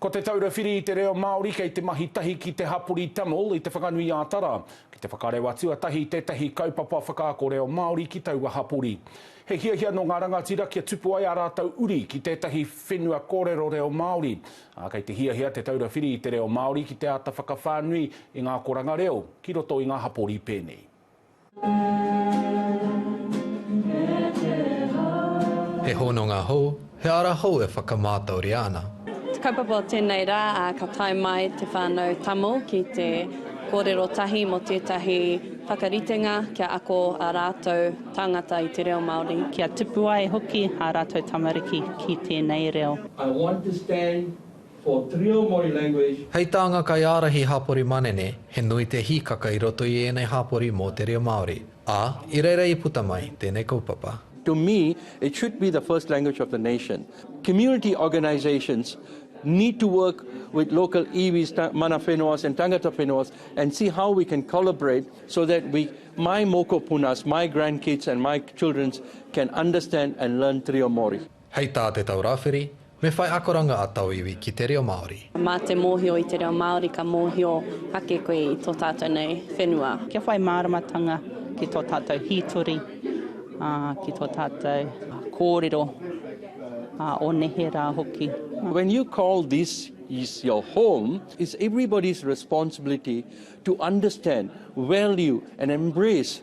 Ko Te Taura Whiri i te Reo Māori kei te mahi tahi ki te hapori Tamil i Te Whanganui-ā-Tara ki te whakarewa tuatahi tētahi kaupapa whakaako reo Māori ki taua hapori. He hiahia nō ngā rangatira kia tupu ai ā rātou uri ki tētahi whenua kōrero reo Māori, ā, kei te hiahia Te Taura Whiri i te Reo Māori ki te āta whakawhānui i ngā akoranga reo ki roto i ngā hapori pēnei. He hononga hou, he ara hou e whakamātauria ana. Te kaupapa o tēnei rā, ka tae mai te whānau Tamil ki te kōrero tahi mō tētahi whakaritenga kia ako ā rātou tāngata i te reo Māori. Kia tupu ai hoki ā rātou tamariki ki tēnei reo. I want to stand. for Trio Mori language. Hei tā ngā kaiārahi hapori manene, he nui te hīkaka i roto i ēnei hapori mō te reo Māori, ā, i reira i puta mai tēnei kaupapa. To me, it should be the first language of the nation. Community organisations need to work with local iwis, mana whenuas and tangata whenuas and see how we can collaborate so that we, my mokopunas, my grandkids and my children can understand and learn Trio Mori. Hei tā Te Tau Rāwhiri, Me whai akoranga a tauiwi ki te reo Māori. Mā te mōhio i te reo Māori ka mōhio ake koe i tō tātou nei whenua. Kia whai māramatanga ki tō tātou hītori, ā, ki tō tātou kōrero, ā, o nehe rā hoki. When you call this is your home, it's everybody's responsibility to understand, value and embrace.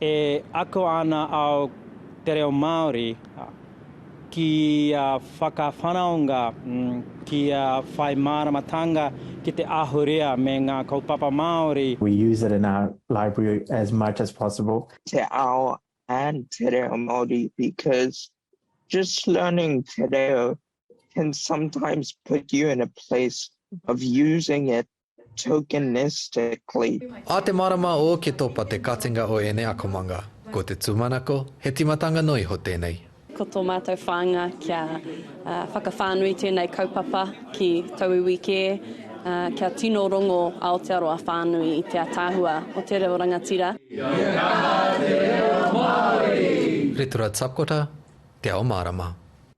E ako ana ao te reo Māori kia whakawhanaunga, kia whai māramatanga ki te ahurea me ngā kaupapa Māori. We use it in our library as much as possible. te ao and te reo Māori because just learning te reo can sometimes put you in a place of using it tokenistically. A te marama o ke topa te katinga o enei akomanga. Ko te tumanako, he timatanga noa iho tenei. Ko to matou whaanga kia whakawhanui tenei kaupapa ki tou iwi ke, kia tino rongo Aotearoa whanui i te ataahua o te reo rangatira. Kia kaha te reo Maori! Ritura Tapkota, Te Ao Marama.